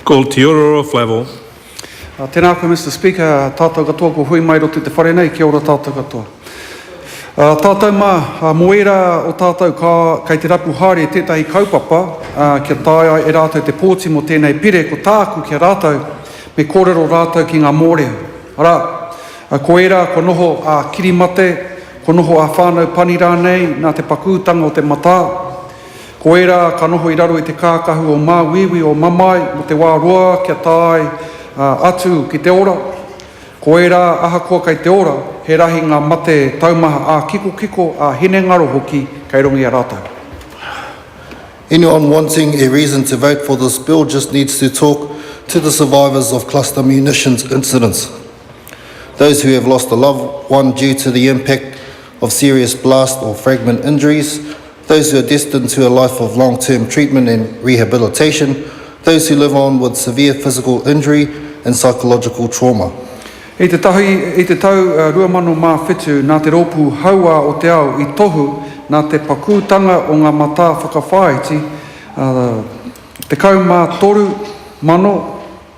Ko Te Ororo Flavell. Tēnā koe Mister Speaker, tātou katoa kua hui mai roto i te whare nei, kia ora tātou katoa. Tātou mā, mō ērā o tātou ka, kei te rapu haere tētahi kaupapa kia taea e rātou te pōti mō tēnei pire, ko tāku ki a rātou, me kōrero rātou ki ngā mōrea. Arā, ko ērā kua noho ā kirimate, kua noho ā whānau pani rānei nā te pakūtanga o te matā, Ko ērā ka noho i raro i te kākahu o māuiui o mamae mō te wā roa kia tae atu ki te ora. Ko ērā ahakoa kei te ora, he rahi ngā mate taumaha ā-kikokiko, ā-hinengaro hoki kei runga i a rātou. Anyone wanting a reason to vote for this bill just needs to talk to the survivors of cluster munitions incidents. Those who have lost a loved one due to the impact of serious blast or fragment injuries. those who are destined to a life of long-term treatment and rehabilitation, those who live on with severe physical injury and psychological trauma. I te tahi, i te tau 2007, nā te Rōpū Hauā o te Ao i tohu nā te pakūtanga o ngā matā whakawhāiti, ā, 13,000,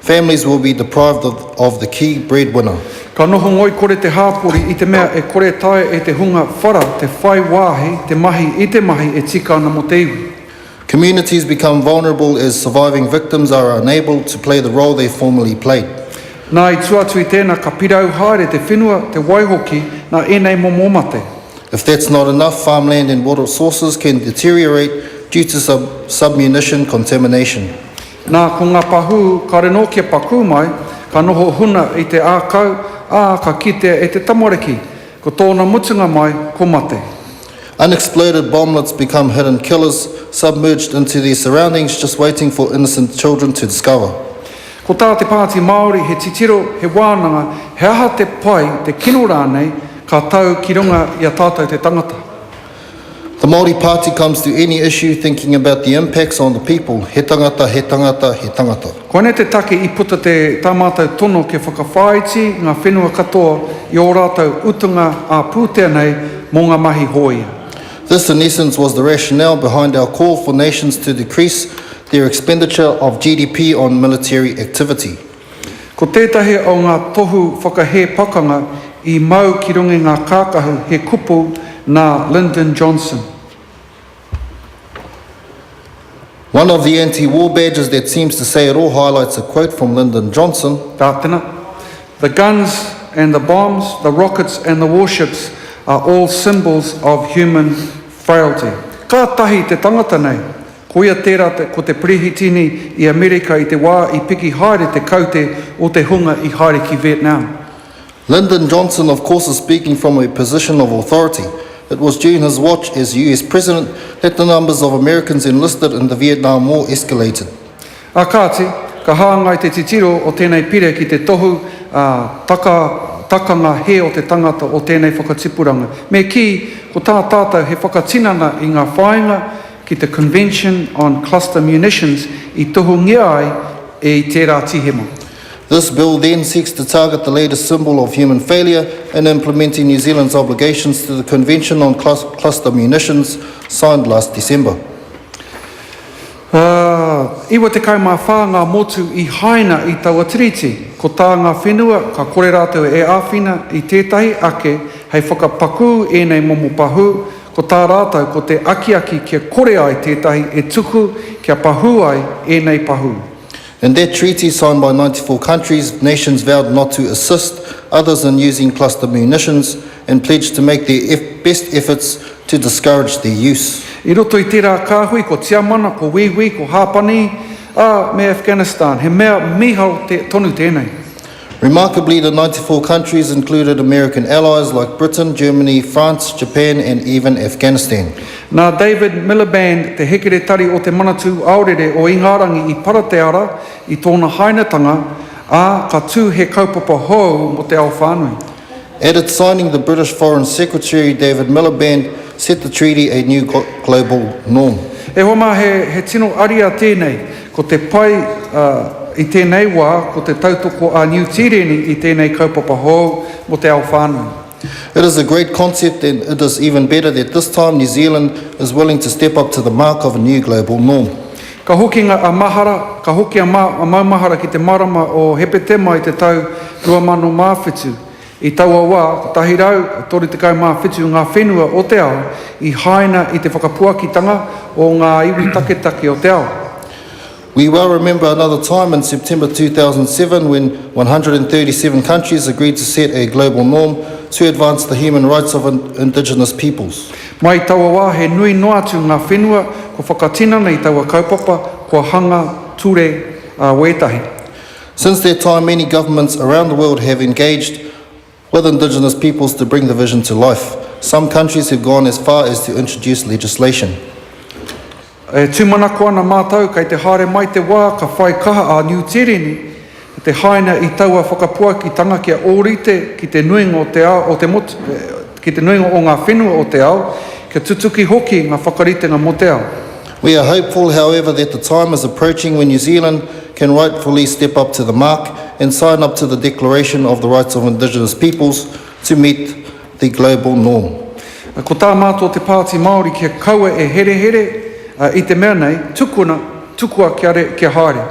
Families will be deprived of the key breadwinner. Ka noho ngoikore te hāpori i te mea e kore taea e te hunga whara te whai wāhi, te mahi i te mahi e tika ana mō te iwi. Communities become vulnerable as surviving victims are unable to play the role they formerly played. Nā, i tua atu i tēnā ka pirau haere te whenua, te wai hoki, nā ēnei momo mate. If that's not enough, farmland and water sources can deteriorate due to sub-munition contamination. Nā, ko ngā pahū kāre nō kia pakū mai, ka noho huna i te ākau, ā, ka kitea e te tamariki, ko tōna mutunga mai, ko mate. Unexploded bomblets become hidden killers, submerged into their surroundings, just waiting for innocent children to discover. Ko tā te Pāti Māori he titiro, he wānanga, he aha te pai, te kino rānei, ka tau ki runga i a tātou te tangata. The Māori Party comes to any issue thinking about the impacts on the people, he tangata, he tangata, he tangata. Koinei te take i puta te tā mātou tono kia whakawhāiti ngā whenua katoa i ō rātou utunga ā-pūtea nei mō ngā mahi hōia. This in essence was the rationale behind our call for nations to decrease their expenditure of GDP on military activity. Ko tētahi o ngā tohu whakahē pakanga i mau ki runga i ngā kākahu he kupu nā Lyndon Johnson. One of the anti-war badges that seems to say it all highlights a quote from Lyndon Johnson. Tātena, The guns and the bombs, the rockets and the warships are all symbols of human frailty. Kātahi te tangata nei Koia tērā ko te Perehitini i Amerika i te wā i piki haere te kaute o te hunga i haere ki Vietnam. Lyndon Johnson of course is speaking from a position of authority. It was during his watch as US President that the numbers of Americans enlisted in the Vietnam War escalated. Ā kāti, ka hāngai te titiro o tēnei pire ki te tohu ā taka takanga hē o te tangata o tēnei whakatipuranga. Me kī, ko tā tātou he whakatinana i ngā whāinga, ki te Convention on Cluster Munitions i tohungia ai e i tērā Tīhema. This Bill then seeks to target the latest symbol of human failure in implementing New Zealand's obligations to the Convention on Cluster Munitions, signed last December. Ā, iwa tekau mā whā ngā motu i haina i taua Tiriti. Ko tā ngā whenua, ka kore rātou e āwhina i tētahi ake hei whakapakū ēnei momo pahū, Ko tā rātou ko te akiaki kia kore ai tētahi e tuku kia pahū ai ēnei pahū. In their treaty signed by ninety four countries, nations vowed not to assist others in using cluster munitions and pledged to make their best efforts to discourage their use. I roto i tērā kāhui ko Tiamana, ko Wīwī, ko Hāpani, ā, me Afghanistan, he mea mīharo tonu tēnei. Remarkably, the ninety four countries included American allies like Britain, Germany, France, Japan and even Afghanistan. Nā David Miliband, te hekeretari o te Manatū Aorere o Ingarangi i para te ara i tōna hainatanga, ā, ka tū he kaupapa hou mō te ao whānui. At its signing the British Foreign Secretary David Miliband set the treaty a new global norm. E hoa mā, he tino ariā tēnei. Ko te pai i tēnei wā ko te tautoko a Niu Tīreni i tēnei kaupapa hou mō te ao whānui. It is a great concept and it is even better that this time New Zealand is willing to step up to the mark of a new global norm. Ka hoki nga a mahara, ka hoki a maumahara ki te marama o Hepetema i te tau 2007. I taua wa, 137 nga whenua o te ao i haina i te whakapuakitanga o nga iwi taketake o te ao. We well remember another time in September 2007 when 137 countries agreed to set a global norm to advance the human rights of indigenous peoples. Mai taua wā he nui noa atu ngā whenua kua whakatinana i taua kaupapa, kua hanga ture ā wētahi. Since that time many governments around the world have engaged with indigenous peoples to bring the vision to life. Some countries have gone as far as to introduce legislation. E tūmanako ana mātou kei te haere mai te wā ka whai kaha a Niu Tīreni ki te haina i taua whakapuakitanga kia ōrite ki te nuinga o te ao o te motu, ki te nuinga o ngā whenua o te ao, kia tutuki hoki ngā whakaritenga mō te ao. We are hopeful, however, that the time is approaching when New Zealand can rightfully step up to the mark and sign up to the Declaration of the Rights of Indigenous Peoples to meet The Global Norm. Ko tā mātou te Pāti Māori kia kaua e herehere, ā, i te mea nei, tukuna, tukua kia re, kia haere.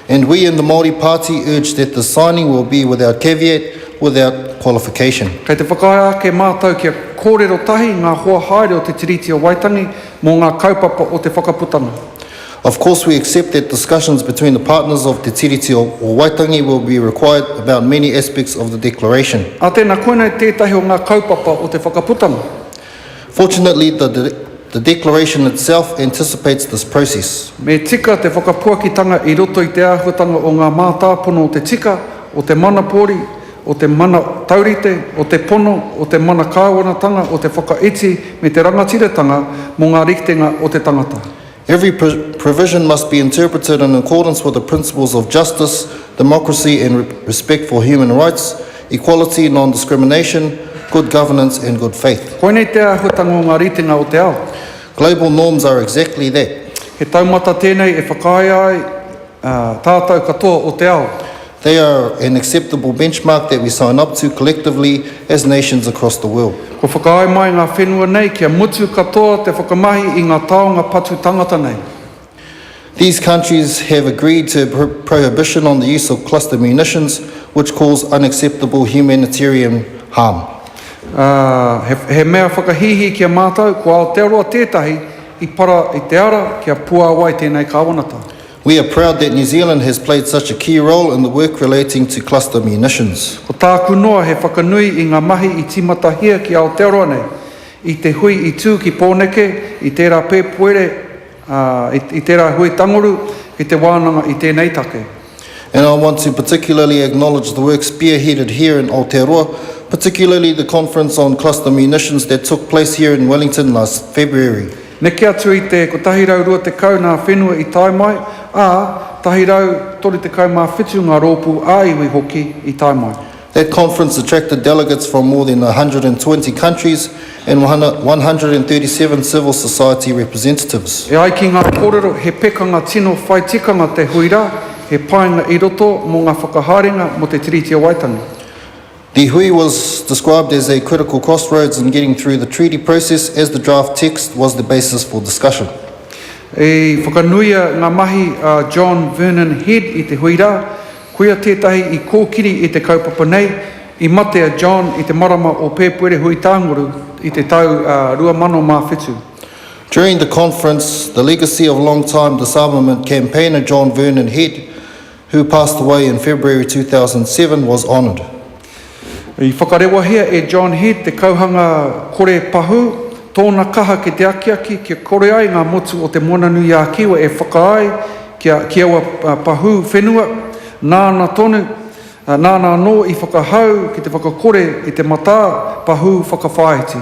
And we in the Māori Party urge that the signing will be without caveat, without qualification. Kei te whakaae ake mātou kia kōrero tahi ngā hoa haere o te Tiriti o Waitangi mō ngā kaupapa o te whakaputanga. Of course we accept that discussions between the partners of Te Tiriti o Waitangi will be required about many aspects of the Declaration. Ā tēnā, koinei tētahi o ngā kaupapa o te whakaputanga. Fortunately the the Declaration itself anticipates this process. Me tika te whakapuakitanga i roto i te āhuatanga o ngā mātāpono o te tika, o te mana pōri, o te mana taurite, o te pono, o te mana kāwanatanga, o te whakaiti me te rangatiratanga mō ngā rikitenga o te tangata. Every provision must be interpreted in accordance with the principles of justice, democracy and respect for human rights, equality, non-discrimination, good governance and good faith. Koinei te āhuatanga o ngā ritenga o te ao. Global norms are exactly that. He taumata tēnei e whakaea ai. Ā tātou katoa o te ao. They are an acceptable benchmark that we sign up to collectively as nations across the world. Kua whakaae mai ngā whenua nei kia mutu katoa te whakamahi i ngā taonga patu tangata nei. These countries have agreed to a prohibition on the use of cluster munitions which cause unacceptable humanitarian harm. Ā, he, he mea whakahīhī ki a mātou, ko Aotearoa tētahi i para i te ara kia puāwai tēnei kāwanata. We are proud that New Zealand has played such a key role in the work relating to cluster munitions. Ko tāku noa he whakanui i ngā mahi i tīmatahia ki Aotearoa nei, i te hui i tū ki Pōneke, i tērā pēpuere, ā, i, i tērā hui tangoru, ki te wānanga i tēnei take. And I want to particularly acknowledge the work spearheaded here in Aotearoa, particularly the conference on cluster munitions that took place here in Wellington last February. Neke atu i te 120 ngā whenua i tae mai, ā, 137 ngā rōpū ā-iwi hoki i tae mai. That conference attracted delegates from more than 120 countries and 137 civil society representatives. E ai ki ngā kōrero, he pekanga tino whai tikanga te hui rā, he painga i roto mō ngā whakahaerenga mō te Tiriti o Waitangi. Te hui was described as a critical crossroads in getting through the treaty process as the draft text was the basis for discussion. I whakanuia ngā mahi a John Vernon Head i te hui rā, koia tētahi i kōkiri i te kaupapa nei, i mate a John i te marama o Pēpuere hui tānguru i te tau 2007. During the conference, the legacy of long-time disarmament campaigner John Vernon Head who passed away in February 2007 was honoured. I whakarewahia e John Head te kauhanga kore pahū, tōna kaha ki te akiaki kia kore ai ngā motu o Te Moana-nui-ā-Kiwa e whakaae kia ki aua pahū whenua, nāna tonu, nāna anō i whakahau ki te whakakore i te matā pahū whakawhāiti.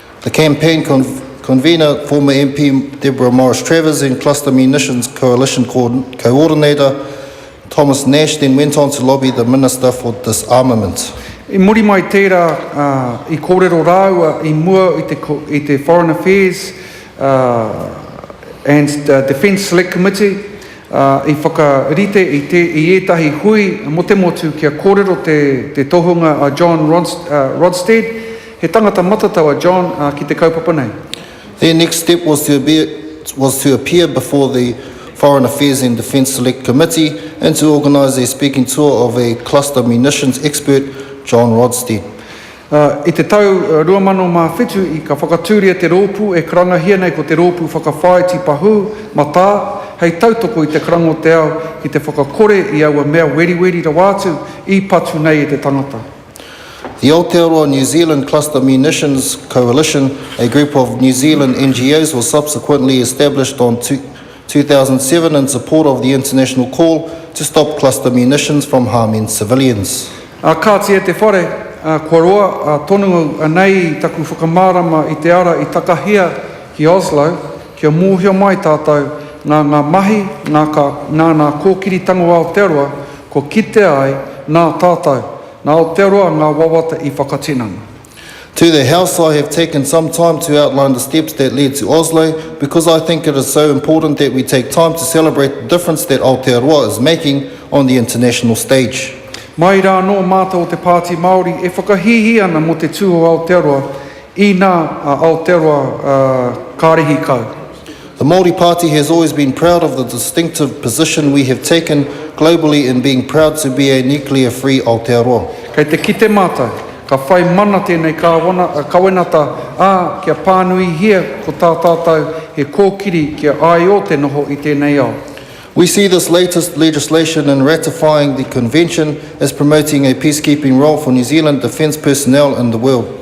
The campaign convener, former MP Deborah Morris-Travers and Cluster Munitions Coalition coordinator Thomas Nash then went on to lobby the Minister for Disarmament. I muri mai tērā, i kōrero rāua i mua i te Foreign Affairs and Defence Select Committee, i whakarite i ētahi hui mō te motu kia kōrero te tohunga a John Rodsted, He tangata matatau a John a ki te kaupapa nei. Their next step was to be was to appear before the Foreign Affairs and Defence Select Committee and to organise a speaking tour of a cluster munitions expert, John Rodsted. Ā, i te tau 2007 i ka whakatūria te rōpū e karangahia nei ko te Rōpū Whakawhāiti Pahū, Matā, hei tautoko i te karanga o te ao ki te whakakore i aua mea weriweri rawa atu i patu nei e te tangata. The Aotearoa New Zealand Cluster Munitions Coalition, a group of New Zealand NGOs was subsequently established on 2007 in support of the international call to stop cluster munitions from harming civilians. Ā, kāti e te whare, ā, kua roa, ā, tonu au, anei taku whakamārama i te ara i takahia ki Oslo, Kia mōhio mai tātou nā ngā mahi nā kā, nā nā kōkiri tango Aotearoa kua kitea ai nā tātou, nā Aotearoa ngā wawata i whakatinana. To the House, I have taken some time to outline the steps that led to Oslo, because I think it is so important that we take time to celebrate the difference that Aotearoa is making on the international stage. Mai rā anō mātou o te Pāti Māori e whakahīhī ana mō te tū o Aotearoa Inā a Aotearoa kārihi kau. The Māori Party has always been proud of the distinctive position we have taken globally in being proud to be a nuclear free Aotearoa. Kei te kite mātou, ka whai mana tēnei kāwana, kawenata, ā, kia pānuihia ko tā tātou he kōkiri kia āio te noho i tēnei ao. We see this latest legislation in ratifying the Convention as promoting a peacekeeping role for New Zealand defence personnel in the world.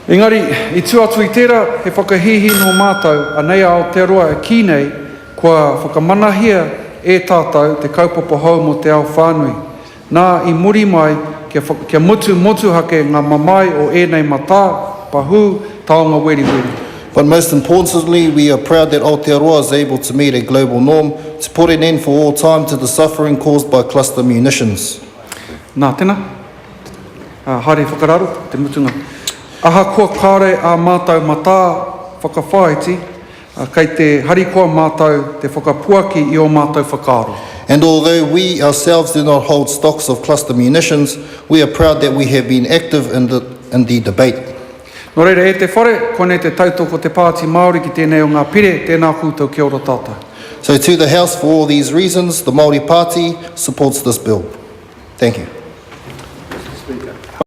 Engari, i tua atu i tērā, he whakahīhī nō mātou anei a Aotearoa e kī nei kua whakamanahia e tātou te kaupapa hou mō te ao whānui. Nā, i muri mai, kia, kia mutu motuhake ngā mamae o ēnei matā, pahū, taonga weriweri. But most importantly, we are proud that Aotearoa is able to meet a global norm to put an end for all time to the suffering caused by cluster munitions. Nā, tēnā. Ā, haere whakararo, te mutunga. Ahakoa kāre ā mātou matā whakawhāiti, Ā, kei te harikoa mātou te whakapuaki i ō mātou whakaaro. And although we ourselves do not hold stocks of cluster munitions, we are proud that we have been active in the in the debate. Nō reira, e te Whare, koinei te tautoko te Pāti Māori ki tēnei o ngā pire, tēnā koutou kia ora tātou. So to the House, for all these reasons, the Māori Pāti supports this Bill. Thank you.